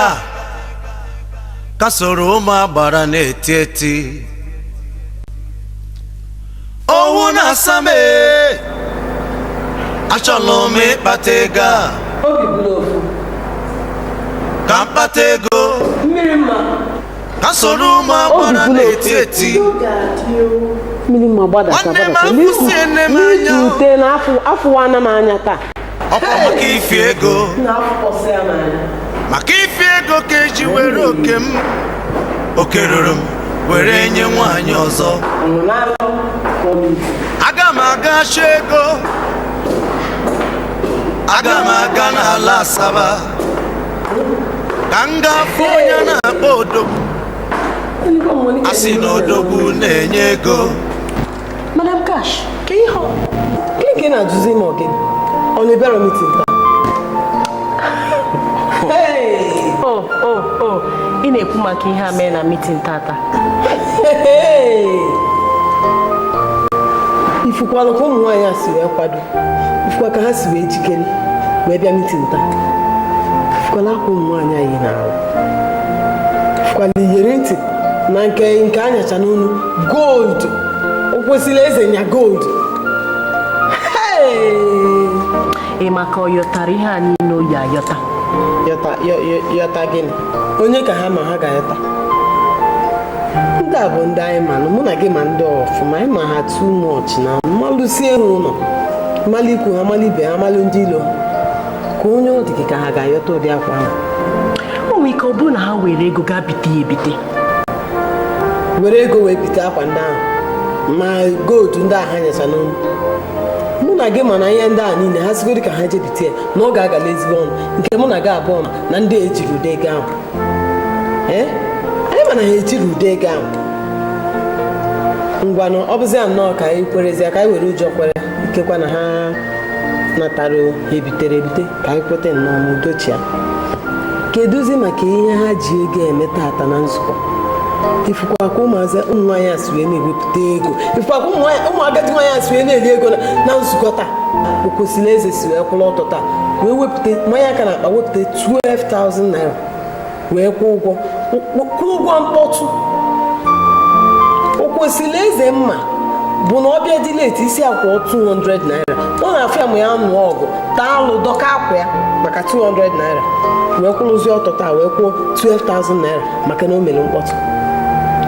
ịga ka soro ụmụ agbara na-eti eti owu na-asa m ee, achọlụ m ịkpata ego a obi bụ n'ofu ka m kpata ego mmiri mma ka soro ụmụ agbara na-eti eti mmiri mma gbadata Nwanne m gbadata afụsiene m anya. n'ikute na afụ afụwana m anya taa ọkwa maka ifi ego maka ifi ego ka e ji were oke m oke ruru m were nye nwaanyị ọzọ aga m aga chọ ego aga m aga n'ala asaba ka m gaa fụ onye na-akpọ odogwu a sị na odogwu na-enye ego Madam Cash, ka ihe ọ gịnị ka ị na-ajụzi ma ọ gị ọ na ị bịara mitin taa? O o o ị na-ekwu maka ihe a mee na mitin tata. ị fụkwala ka ụmụ nwaanyị a si wee kwado ị fụkwa ka ha si wee jikere wee bịa mitin taa ị fụkwala akwa ụmụ nwaanyị a yi n'arụ ị fụkwala iyeri ntị na nke ha nyacha n'onu gold Okwesịrịeze nya gold ọ dị m ka ọ yọtara ihe a niile o yi ayọta yọta gịnị onye ka ha ma ha ga-ayọta ndị a bụ ndị anyị manụ mụ na gị ma ndị a ọfụma anyị ma ha too much na m malụsie ha ụlọ m malụ ikwu ha m malụ ibe ha m malụ ndị ilo ha ka onye ọ dị gị ka ha ga-ayọta ụdị akwa ahụ o nwere ike ọ bụrụ na ha were ego gaa bite ya ebite were ego wee bite akwa ndị ahụ ma gold ndị ahụ ha nyacha n'onu mụ na gị ma na ihe ndị a niile ha sịgodu ka ha je bite ya na ọ ga-agala ezigbo ọnụ nke mụ na gị abụọ ma na ndị a ejighi ụdị ego ahụ ee anyị ma na ha ejighi ụdị ego ahụ ngwanụ ọ bụzi ya nnọọ ka anyị kwerezie ka anyị were ụjọ kwere ikekwa na ha natara ebitere ebite ka anyị kweta nnọọ ma udo chịa kedụzi maka ihe ha ji ego eme tata na nzukọ ị fụkwa ka ụmụazị ụmụ nwaanyị a si wee na-ewepụta ego ị fụkwa ka ụmụ agadi nwaanyị a si wee na-eri ego na nzukọ taa Okwesịrịeze si wee kwụrụ ọtọ taa wee wepụta manye aka n'akpa wepụta 12,000 naira wee kwụọ ụgwọ kwụọ ụgwọ mkpọtụ Okwesịrịeze m ma bụ na ọ bịa dị late ị sị ya kwụọ 200 naira ọ na-afịa mụ na ya nụọ ọgụ taa alụ dọka akwa ya maka 200 naira wee kwụrụzie ọtọ taa wee kwụọ 12,000 naira maka na o mere mkpọtụ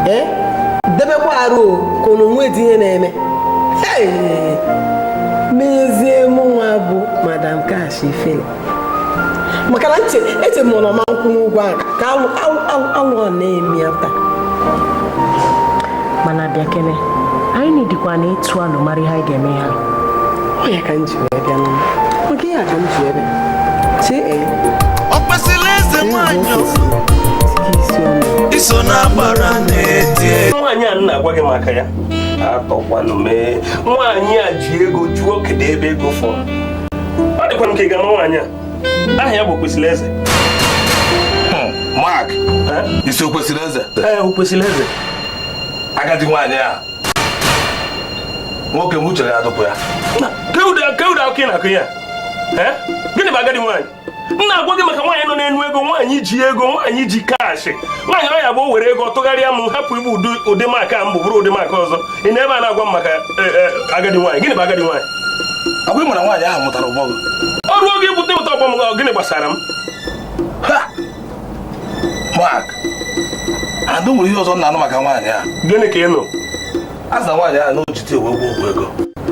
ee debekwa arụ ka na o nwedị ihe na-eme n'ezie mụnwa bụ Madam Cash ifele maka na ntị eti m na ọma nkwụ n'ụgwọ ahụ ka alụ a na-eme ya taa mana bịa kene anyị na-edikwa na ịtụ alo mara ihe anyị ga-eme ya ọ ya ka m ji wee bịa n'ụlọ maka ihe a ka m ji wee bịa ee okwesịrị eze nwanyị iso na-agbara na-eti e. nwaanyị a m na-agwa gị maka ya atọkwanụ m ee nwaanyị a ji ego jụọ kedu ebe ego fọrọ ọ dịkwanụ ka ị ga-ama nwaanyị a aha ya bụ okwesịrị eze hmm, Mark eh? ị sị okwesịrị eze ee eh, okwesịrị eze agadi nwaanyị a nwoke m uche gị ọ dịkwa ya kee ụdị akụkọ ị na-akọ ya eh? gịnị bụ agadi nwaanyị m na-agwa gị maka nwaanyị nọ n'enu ego nwaanyị ji ego nwaanyị ji cash nwaanyị ọ ya-abụ o were ego tụgharịa m hapụ ịbụ ụdị Mark a m bụ bụrụ ụdị Mark ọzọ ị nọ ebe a na-agwa m maka e, e, agadi nwaanyị gịnị bụ agadi nwaanyị ọkwa ị mara nwaanyị ahụ mụtara ọgbọ gị ọ ruo oge ibute ụta ọgbọ m gịnị gbasara m Mark adụ nwere ihe ọzọ m na-anụ maka nwaanyị a gịnị ka ị nụ a sị nwaanyị a na o jite ewe ọgwụ ego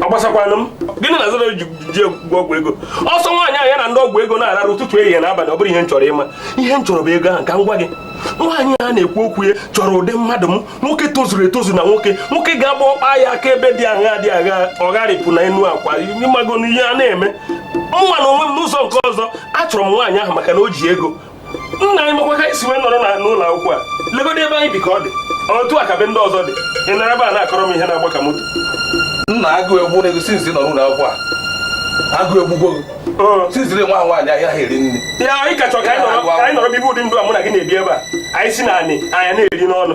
ọ gbasakwanụ m gịnị na-azara nje ọgwụ ego ọ sọ nwaanyị ahụ ya na ndị ọgwụ ego na-ararụ ụtụtụ ehihie na abalị ọ bụrọ ihe m chọrọ ịma ihe m chọrọ bụ ego ahụ ka m gwa gị nwaanyị a na-ekwu okwu ya chọrọ ụdị mmadụ m nwoke tozuru etozu na nwoke nwoke ga-abụ ọ kpa ya aka ebe dị aghaa dị aghaa ọ gharịpụ na enu akwa ị mago ihe a na-eme mụwa na onwe m n'ụzọ nke ọzọ achọrọ m nwaanyị ahụ maka na o ji ego nna anyị makwa ka anyị si wee nọrọ n'ụlọ akwụkwọ a legodo ebe anyị bi ka ọ dị otu a ka be ndị ọzọ dị ị nọrọ ebe a na-akọrọ m ihe na-agba ka moto nna agụụ egbugo since ị nọ n'ụlọ akwụkwọ a agụụ egbugo gị since nwa ahụ nwaanyị ahịa ha eri nri ya na ị ka chọrọ ka anyị nọrọ bibe ụdị ndụ a mụ na gị na-ebi ebe a anyị si na anị anya na-eri n'ọnụ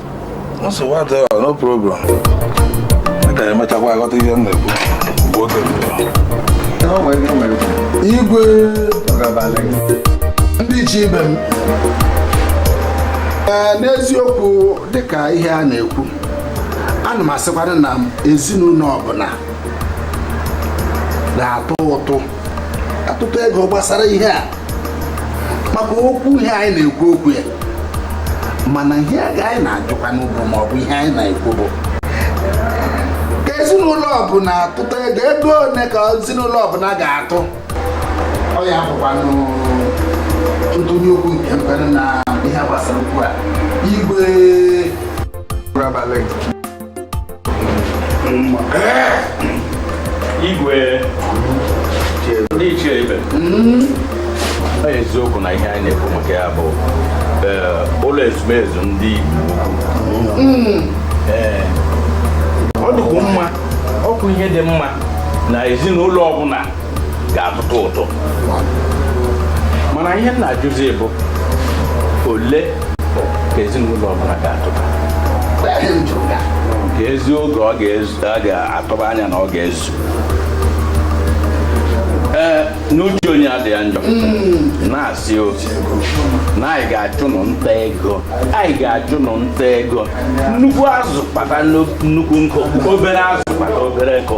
igwe ndị ichie ibe m n'eziokwu dịka ihe a na-ekwu ana m asịkwanụ na ezinụlọ ọbụla ga-atụ ụtụ atụta ego gbasara ihe a maka okwu ihe anyị na-ekwu okwu ya mana ihe aga anyị na-ajụkwanụ bụ ma ọ bụ ihe anyị na-ekwu bụ ka ezinụlọ ọbụla atụta ego ego one ka ezinụlọ ọbụla ga-atụ ọ ya bụkwanụ ntụnye okwu nke m nwere na ihe gbasara okwu a igwe igwe ndị ichie ibe eziokwu na ihe anyị na-ekwu maka ya bụ eh, ụlọ ezumezu ndị Igbo Ukwu ọ dịkwa mma ọ bụ ihe dị mma na ezinụlọ ọbụla ga-atụtụ ụtụ mana ihe m na-ajụzi bụ ole ka ezinụlọ ọbụla ga-atụta ka ezi oge ọ ga-atụba anya na ọ ga-ezu ee n'uche onye adị ya njọ na-asịzi na anyị ga-achụ nụ nta ego anyị ga-achụ nụ nta ego nnukwu azụ kpata nnukwu nkụ obere azụ kpata obere nkụ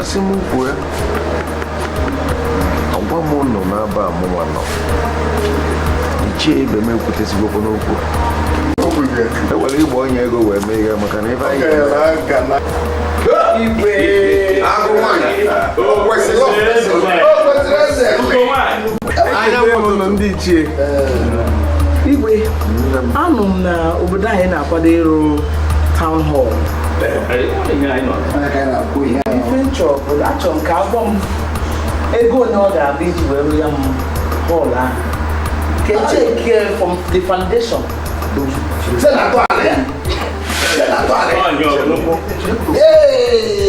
asị m kwue agwa m nụ n'eba mụwa nọ ichie ibe m ekwutezigokwa n'okwu ewere igba onye ego wee mee ihe maka na ebe anyị ndị ichie igwe anụ m na obodo anyị na-akwado ịrụ town hall ife m chọ bụ achọ m ka a gwa m ego ole ọ ga-abụ iji wee rụọ ya bụ hall ahụ ka eche nke from the foundation Ee,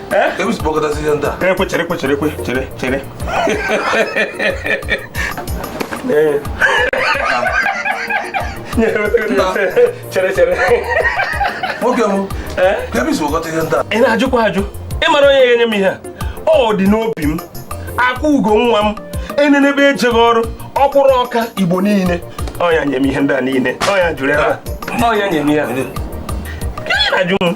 ekwe chere ekwe chere ekwe chere chere chere chere nwoke m ị na-ajụkwa ajụ ịmara onye ga-enye m ihe a ọ dị n'obi m akwa ugo nwa m enenebe ejeghị ọrụ ọkwụrụ ọka igbo niile ọ ya nye m ihe ndị a niile ọ ya juru ebe a ọ ya nye m ihe a na-ajụ m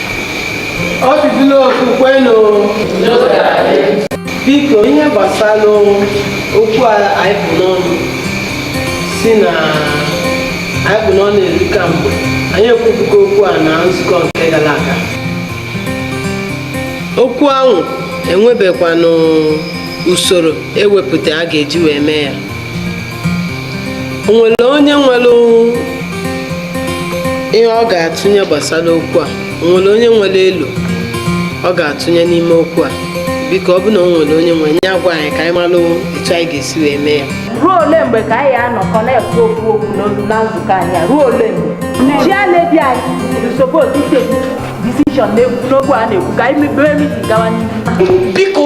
ọ dịzila okwukwe na biko ihe gbasara okwu a anyị kpụ n'ọnụ si na anyị kpụ n'ọnụ eri ka mgbe anyị ekwubugo okwu a na nzukọ nke gara aga okwu ahụ enwebekwanụ usoro ewepụta a ga-eji wee mee ya o nwere onye nwere ihe ọ ga-atụnye gbasara okwu a o nwere onye nwere elo ọ ga-atụnye n'ime okwu a biko ọ bụ na o nwere onye nwere nya gwa anyị ka anyị malụ etu anyị ga-esi wee mee ya ruo ole mgbe ka anyị anọkọ na-ekwu okwu okwu n'olu na nzukọ anyị a? ruo ole mgbe chairlady anyị is supposed to take decision n'okwu a na-ekwu ka anyị mebere meeting gawa n'ihu biko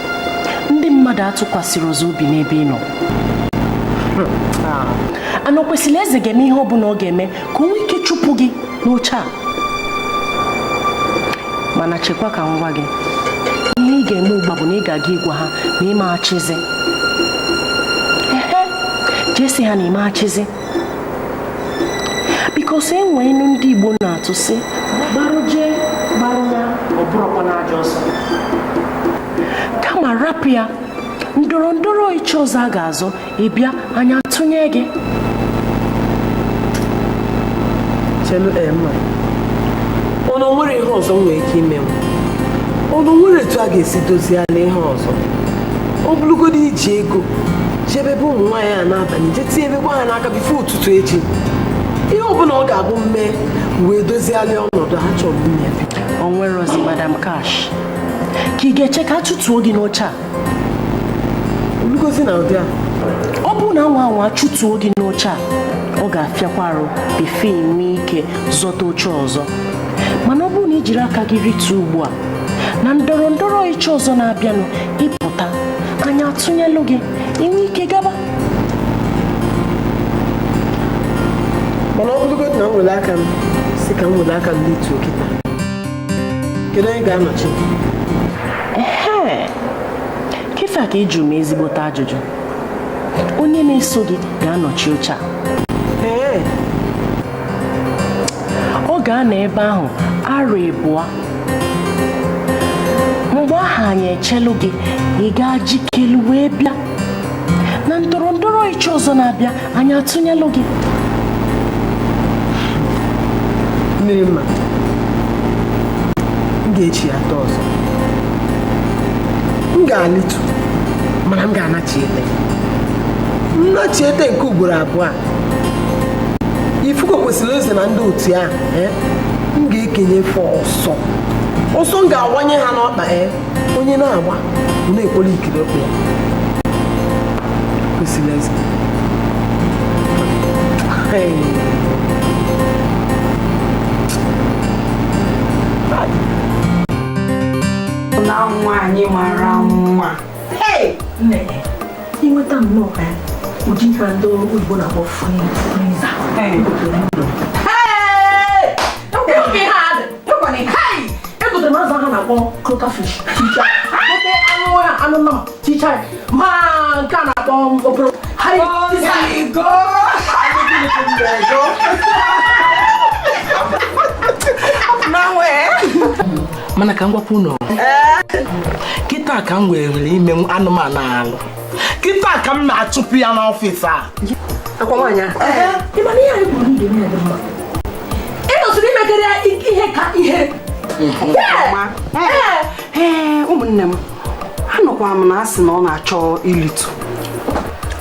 ndị mmadụ atụkwasịrọzị obi n'ebe ị nọ na Okwesilieze ga-eme ihe ọ bụla ọ ga-eme ka o nwee ike chụpụ gị n'oche a mana chekwa ka m gwa gị ihe ị ga-eme ugbu a bụ na ị ga-aga ịgwa ha na ị ma achịzi ehe je sị ha na ị ma achịzi bikos e nwee inu ndị Igbo na-atụ sị gbarụ jee gbarụ ya ọ bụrụkwa na aja ọsọ kama rapụ ya ndọrọ ndọrọ ịchị ọzọ a ga-azọ ị bịa anyị atụnye gị chelu Emma ọ na o nwere ihe ọzọ nwere ike ime m ọ na o nwere etu a ga-esi doziala ihe ọzọ ọ bụrụgodị iji ego jebe ebe ụmụ nwaanyị a n'abalị je tinyebekwa ha n'aka bifo ụtụtụ echi ihe ọbụla ọ ga-abụ m mee wee doziali ọnọdụ ha chọrọ ime o nwerọzi Madam Cash ka ị ga-eche ka a chụtuo gị n'oche a o lugozi n'ụdị a ọ bụrụ na a nwaa anwa chụtuo gị n'oche a ọ ga-afịakwa arụ bifo e nwee ike zọta oche ọzọ mana ọ bụrụ na i jiri aka gị rituo ugbu a na ndọrọ ndọrọ ịchị ọzọ na-abịanụ ị pụta anyị atụnyelụ gị i nwee ike gaba mana ọ bụrụgodị na m were aka m si ka m were aka m lituo kịta kedu onye ga-anọchi kịta ka ị jụrụ m ezigbote ajụjụ onye na-eso gị ga-anọchi oche a ọ ga-anọ ebe ahụ arọ ịbụọ mgbe ahụ anyị echelu gị ị gaa jikelu wee bịa na ndọrọ ndọrọ ịchị ọzọ na-abịa anyị atụnyelụ gị mmiri mma m ga-echi ya atọ ọzọ m ga-alịtu mana m ga-anachiete nnachiete nke ugboro abụọ a ifuko kwesịrị eze na ndị otu ahụ eh, m ga-ekenye fọ ọsọ ọsọ m ga-awanye ha n'ọkpa ee eh, onye na-agba ọ na-ekwere ikiri ọkpa ya kwesịrị eze na nwaanyị mara mma i nweta nnọọ ka ụdị ife ndị oyibo na-akpọ friza egotere m azụ ha na-akpọ croaker fish anụ nnọọ chicha ma nke a na-akpọ okporo mana ka m gwakwa unu kịta ka m were ime anụmanụ alụ kịta ka m na-achụpụ ya n'ọfịs a akwa nwaanyị ị nọsịrị i megara ya ihe ka ihe ụmụnne m anụkwa m na a sị na ọ na-achọ ilitu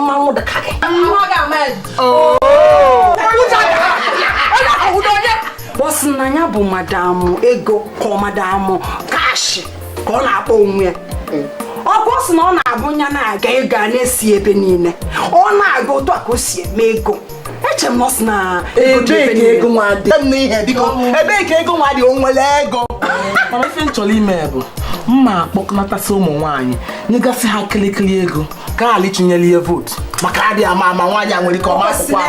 mmanwụ dị ka gị mmanwụ ga-ama ya oh. ọ sị na ya bụ madam ego ka ọ madam cash ka ọ na-akpọ onwe ya ọ bụ sị na ọ na-abụ ya na-aga ego a na-esi ebe niile ọ na-aga otu a ka o si eme ego eche m na ọ sị na ego nwa dị ebee ka ego nwa dị o nwere ego mana ife m chọrọ ime bụ mma akpọkọnatasị ụmụ nwaanyị nyegasị ha kịlịkịlị ego ka ha lie tinyere ihe vootu maka adị ama ama nwaanyị a nwere ike ọ ma akwụkwọ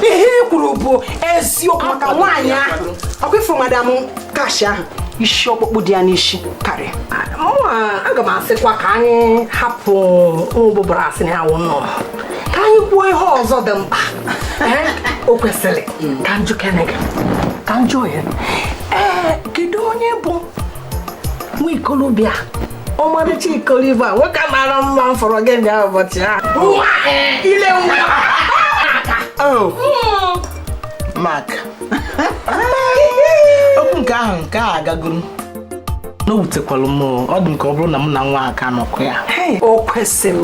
ihe i kwuru bụ eziokwu maka nwaanyị ahụ ọ kwa i fụrụ madam cash ahụ isi ọkpụkpụ dị ya n'isi karịa aga m asịkwa ka anyị hapụ ụbụbara asị na ya wụ nnọọ ka anyị kwuo ihe ọzọ dị mkpa o kwesịrị ka m jụkene gị ka m jụ ohere ee kedu onye bụ nwa ikolobịa ọmarịcha ikolobịa nwoke mara mma m fụrụ gị ndị ụbọchị a ile maka okwu nke ahụ nke a agagoro na o wutekwalụ m ọ dị m ka ọ bụrụ na mụ na nwa aka nọkọ ya o kwesịrị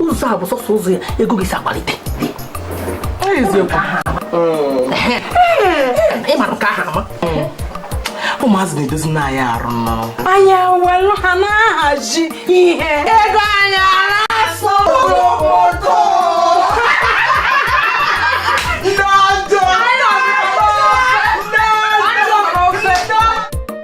ụzọ a bụ sọsọ ụzọ ya ego gị si agbalite ị mara nke ahụ ama ụmụazị na-edozi na anyị arụ nnọọ anyị ewelu ha na-ahazi ihe ego anyị na-asọ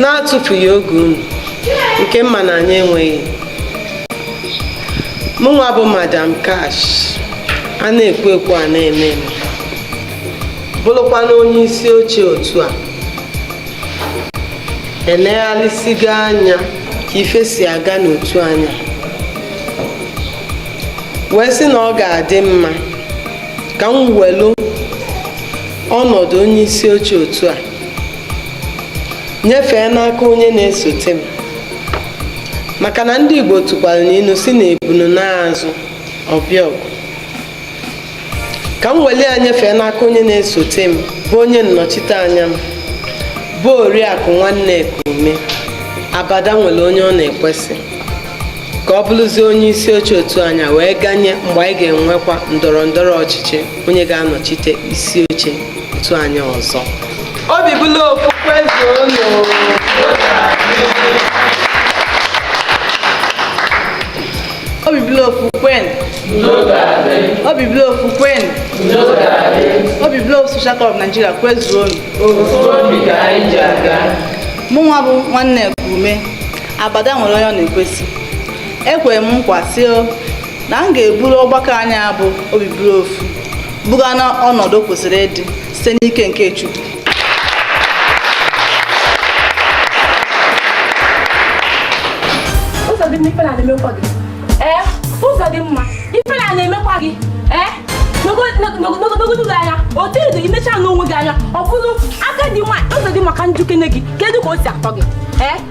n'atụfughị oge unu nke mma na anyị enweghị mụnwa bụ madam cash a na-ekwu ekwu a na-eme eme bụrụkwanụ onye isi oche otu a eneghalịsigo anya ka ife si aga n'otu anyị a wee sị na ọ ga-adị mma ka m welu ọnọdụ onye isi oche otu a nyefee n'aka onye na-esote m maka na ndị Igbo tụkwara n'ilu sị na ebunu naa azụ ọ bịa ọgụ ka m weli ya nyefee n'aka onye na-esote m bụ onye nnọchite anya m bụ oriakụ nwanne Ekume abada nwere onye ọ na-ekwesị ka ọ bụrụzie onye isi oche otu anyị a wee ganye mgbe anyị ga-enwekwa ndọrọ ndọrọ ọchịchị onye ga-anọchite isi oche otu anyị ọzọ obi bụlụ ofu kwezuonụ obi bụlụ ofu kwenụ obi bụlụ ofu kwenụ obi bụlụ ofu Social Club of Nigeria kwezuonụ mụnwa bụ nwanne Ekume abada nwere onye ọ na-ekwesị ekwere m nkwa sị na m ga-eburu ọgbakọ anyị a bụ obi bụrụ ofu buga na ọnọdụ kwesịrị ịdị site n'ike nke Chukwu Ụzọdịmma ife na-emekwa gị ee Ụzọdịmma ife na-emekwa gị ee negodu anya otu ị dị i necha onwe gị anya ọ bụrụ agadi nwaanyị Ụzọdịmma ka m jụkene gị kedu ka o si atọ gị ee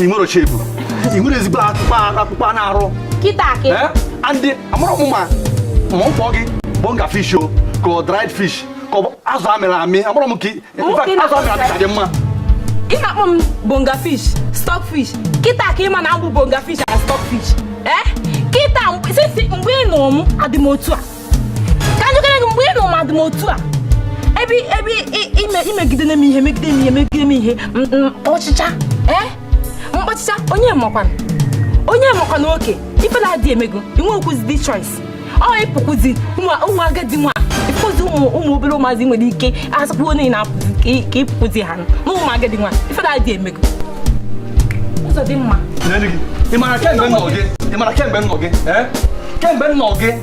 ị nwerọ shape ị nwerọ ezigbo akpụkpọ akpụkpọ anụ arụ kịta akị Eh? and amarọ m ma m kpọọ gị bonga fish o ka ọ dried fish ka ọ bụ azụ amịrị amị amarọ m ka ị- in fact, Nwoke azụ amịrị amị ka dị mma ị na-akpọ m bonga fish stock fish kịta ka ị ma na abụ m bonga fish na stock fish ee kịta mgbe sisi- mgbe ị nụrụ m adị m otu a ka m jụkene gị mgbe ị nụrụ m adị m otu a ebe ebe i megidere m ihe megide m ihe megide m ihe ọchịcha ee mkpọchịcha onye makwana onye makwana oke ife na-adị emego i nwerọkwuzi dị choice ọ ị pụkwuzi ụmụ agadi nwa ị pụzi ụmụ obere ụmụazị nwere ike asapụ onye na-apụzi ka ị pụkwuzi ha na ụmụ agadi nwa ife na-adị emego Ụzọdịmma ị mara kemgbe m nụrụ gị ị mara kemgbe m nụrụ gị kemgbe m nụrụ gị